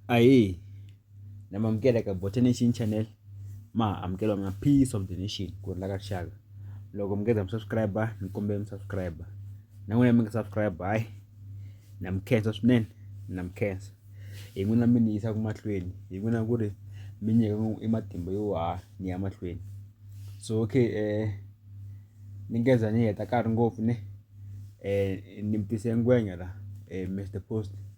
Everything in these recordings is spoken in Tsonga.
Ahee na mi amukela ka Botha Nation channel ma amukela na peace of the nation ku ri la ka rixaka loko mi nga za mi subscribe ni kombela mi subscribe na n'wina mi nga subscribe hayi na mi khensa swinene na mi khensa hi n'wina mi ni yisaka mahlweni hi n'wina ku ri mi nyika i matimba yo ha ni ya mahlweni so okay eh ni nga za ni heta nkarhi ngopfu ne eh ni mi tise ngwenya la eh Mister Post.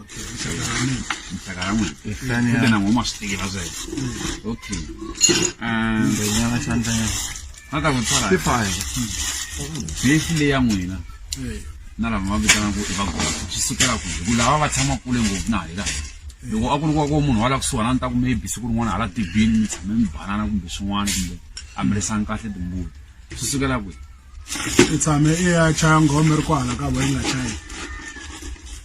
Okay, it's around me. It's around me. It's down here. I don't know what my sticky was there. Okay. Um, but you know something. Not that would try. Fifty-five. Basically, I'm winner. na lava va vitana ku i vagula swi sukela ku ku lava va tshama kule ngopfu na hi laha loko a ku ri kwa ko munhu wa la kusuhana ni ta ku maybe siku rin'wana hala tibini mi tshame mi banana kumbe swin'wana kumbe a mi risangi kahle timbuti swi sukela kwihi i tshame i ya chaya nghoma ri kwala ka bo yi nga chayi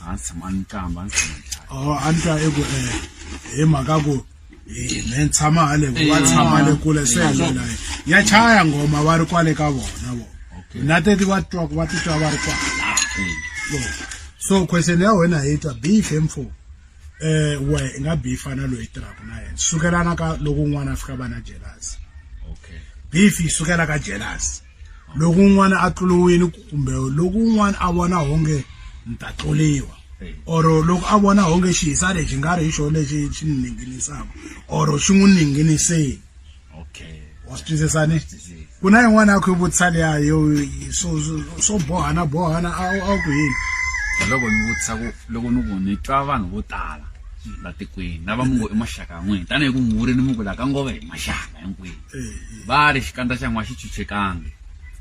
a ndzi tshama ni tlamba a ndzi tshama ni tlamba o a ni twa i ku um hi mhaka ku me ni tshama hale wa tshama le kule se yalela ya chaya nghoma va ri kwale ka vona vo na teti va twa va titwa va ri kwala so question ya wena hi twa bihle mfo um wehe i nga bihi fana na loyi tirhaka na yena sukelana ka loko un'wana a fika va na jelasi okay bifi yi sukela ka jelasi loko un'wana a tluliwile kumbe loko un'wana a vona honge ni ta tluliwa or loko a vona honge xihisa lexi nga ri hi xona lexi xi ni ninginisaka or xi n'wi ninginiseni okay wa swi twisisa ni ku na yin'wana ya ku yi vutisa leya yo swo swo bohana bohana a a ku yini loko ni vutisa ku loko ni ku ni twa vanhu vo tala la tikweni lava mu ngo i maxaka ya n'wina tanihi ku muri ni muku la ka ngova hi maxaka hinkwenu va ri xikandza xa n'wa xi chuchekangi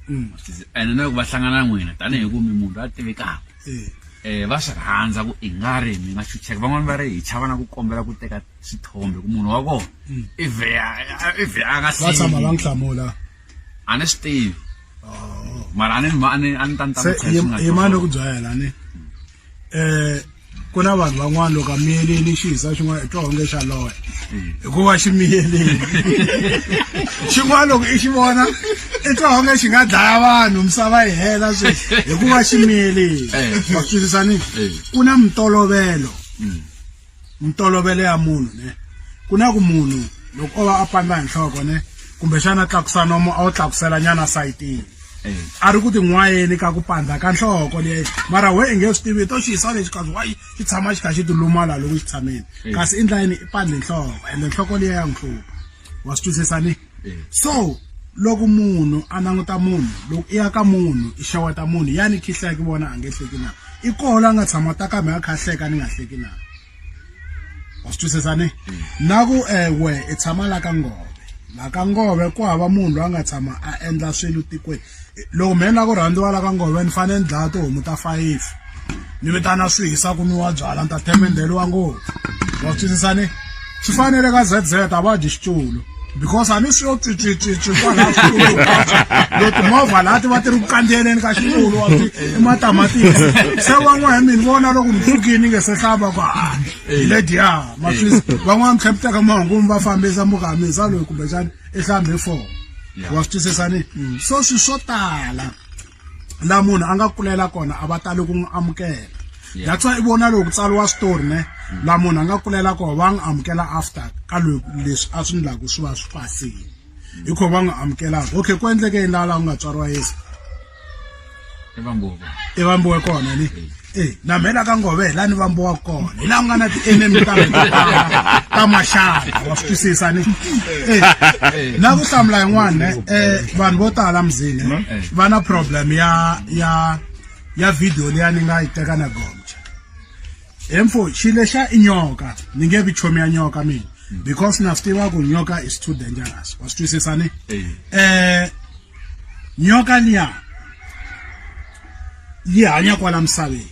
mm. ene na loko va hlangana na n'wina tanihi ku mi munhu a tivekaka um va swi rhandza ku i nga ri mi nga chucheka van'wani va ri hi chava na ku kombela ku teka sithombe kumunhu wa kona mm. ive ive a nga va tshama va n'wi hlamula a ni swi tivi oh. mara a ni a ni a ni ta ni tahi mani ku byayela ni um ku na vanhu van'wana loko a miyelini xi hisa xin'wana i twa onge xa loya mm. hikuva xi miyelini xin'wana loko i xi vona i twa onge xi nga dlaya vanhu misava yi hela sweswi hikuva xi miyelini eh. wa swi twisisa ni eh. ku na mitolovelo mm. ntolovelo ya munhu ne ku na ku munhu loko o va a pandza hi nhloko ne kumbexana tlakusa nomo a wu tlakusela nyana sayitini a ri ku tin'wayeni ka ku pandza ka nhloko leyi mara we i nge swi tivi to xi yisa lexi kazi wayi xi tshama xi kha xi tilumala loko xi tshameni kasi i ndlayini i pandze nhloko ende nhloko leyi ya n'wi hlupha wa swi twisisa ni so loko munhu a languta munhu loko i ya ka munhu i xaweta munhu ya ni khihla ki vona a nge hleki na i koho la nga tshama ta kambe a kha hleka ni nga hleki na wa swi twisisa ni na ku ewe i tshama la ka ngove la ka ngove ku hava munhu loyi a nga tshama a endla swilo tikweni loko mhe ni lava ku rhandziwa la ka ngove ni fanele ni dlaya tihomu ta five ni vitana swi hisa ku nwiwa byala ni ta themendheliwa ngopfu wa twisisa ni swi fanele ka z z a va dyi xitulu because a ni swi yo tswitswitswitswi kwalaha xitulu lo timovha laha ti va ti ri ku kandziyeleni ka xitulu wa ti i matamatisi se van'wana mi ni vona loko mi hlukini nge se hlava ku a hi lediya maswisi van'wana mi tlhepiteka mahungumi va fambisa mukamisa loyi kumbexani i hlambe four wa swi twisisa ni mm. so swi swo tala la munhu a nga kulela kona a va tali ku n'wi amukela that's why i vona loko tsariwa switori ne mm. la munhu a nga kulela kona va n'wi amukela after ka leswi a swi ndlaku swi va swi pasile mm. hi kho va n'wi amukelaka okay ku endleke yini laha laha ku nga tswariwa yesu i vambuko i vambuko kona ni eh na mhela ka ngove la ni vambuko kona hi la nga na ti enemy ta ta mashaka wa swi twisisa ni eh na ku hlamula yin'wana eh vanhu vo tala mzini va na problem ya ya ya video leya ni nga yi teka na gombe he mfo xi lexa i nyoka ni nge vi chomi ya nyoka mina mm. because na swi tiva ku nyoka is too dangerous wa swi twisisa ni um nyoka liya yi hanya kwala misaveni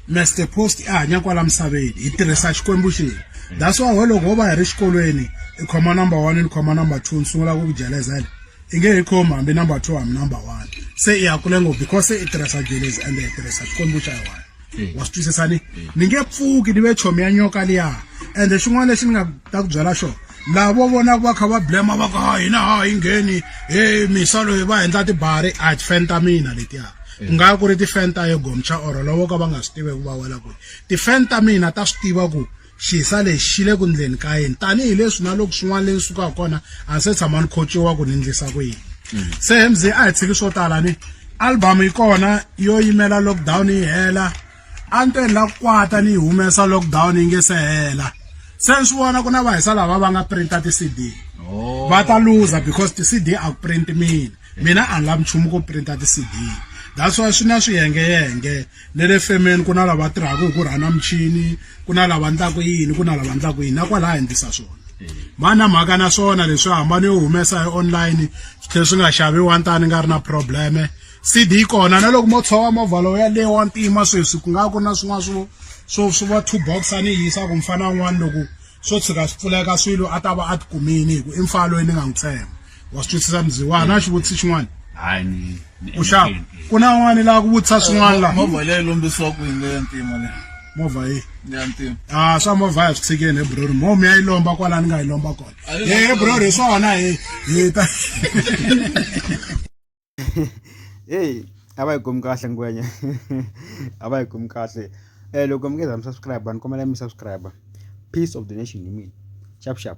master post i hanya kwala misaveni hi tirhisa xikwembu xini that's why loko ho va hi ri xikolweni i khoma number one ni khoma number two ni sungula ku ku jelezela i nge hi khomi hambi number two hambi number one se i ya kule ngopfu because se i tirhisa jelezi ende i tirhisa xikwembu xa yona eh. wa swi twisisa ni eh. ni nge pfuki ni ve chomi ya nyoka liya ende xin'wana lexi ni nga ta ku byela xona laha vo vonaka va kha va blema va ku ha hina ha yi ngheni he misa loyi va endla tibari a tifen ta mina letiya ku nga ku ri tifen ta ye gomcha or lovo ka va nga swi tivi ku va wela kwihi tifen ta mina ta swi tiva ku Xisa lexi xi le ku ndleni ka yini tanihi leswi na loko swin'wana le ni sukaka kona a ni se tshama ni khotsiwa ku ni ndlisa ku yini mm. se mz a hi tshiki swo tala ni album yi kona yo yimela lockdown yi hela a ni to ni la ku kwata ni yi humesa lockdown yi nge se hela se ni swi vona ku na vahisa lava va nga printa ti-cd oh. va ta luza because ti-cd a ku print mina mina a ni lavi nchumu ku printa ti-cd that's why swi na swiyengeyenge Ne le femeni ku na lava tirhaka hi ku rhana michini ku na lava ndlaku yini ku na lava ndlaku yini na kwalaha endlisa swona mani na mhaka na swona leswi hambano yo humesa hi online swi tlhela swi nga xaviwa ntani nga ri na probleme cd yi kona na loko mo tshova movha lowu yaleyo wa ntima sweswi ku nga ku na swin'wana swo swo swi va two box a ni yisa ku mfana un'wana loko swo tshuka swi pfuleka swilo a ta va a tikumini hi ku i mfana loyi ni nga n'wi tshemba wa swi twisisa mziwa na xivutisi xin'wana hayi ni ni u xava endleke ntirho. ku na un'wana la ku vutisa swin'wana la movha leyi lombisiwa ku yini leya ntima leyi movha yi ya ntima a swa movha ya swi tshikeni hebrori mo mi ya yi lomba kwala ni nga yi lomba kona Ayi, he hebrori hi swona hi hi ta heyi a va yi khomi kahle ngwenya a va yi khomi kahle um loko mi nge za mi subscribe ni kombela mi subscribe peace of the nation hi mina xap xap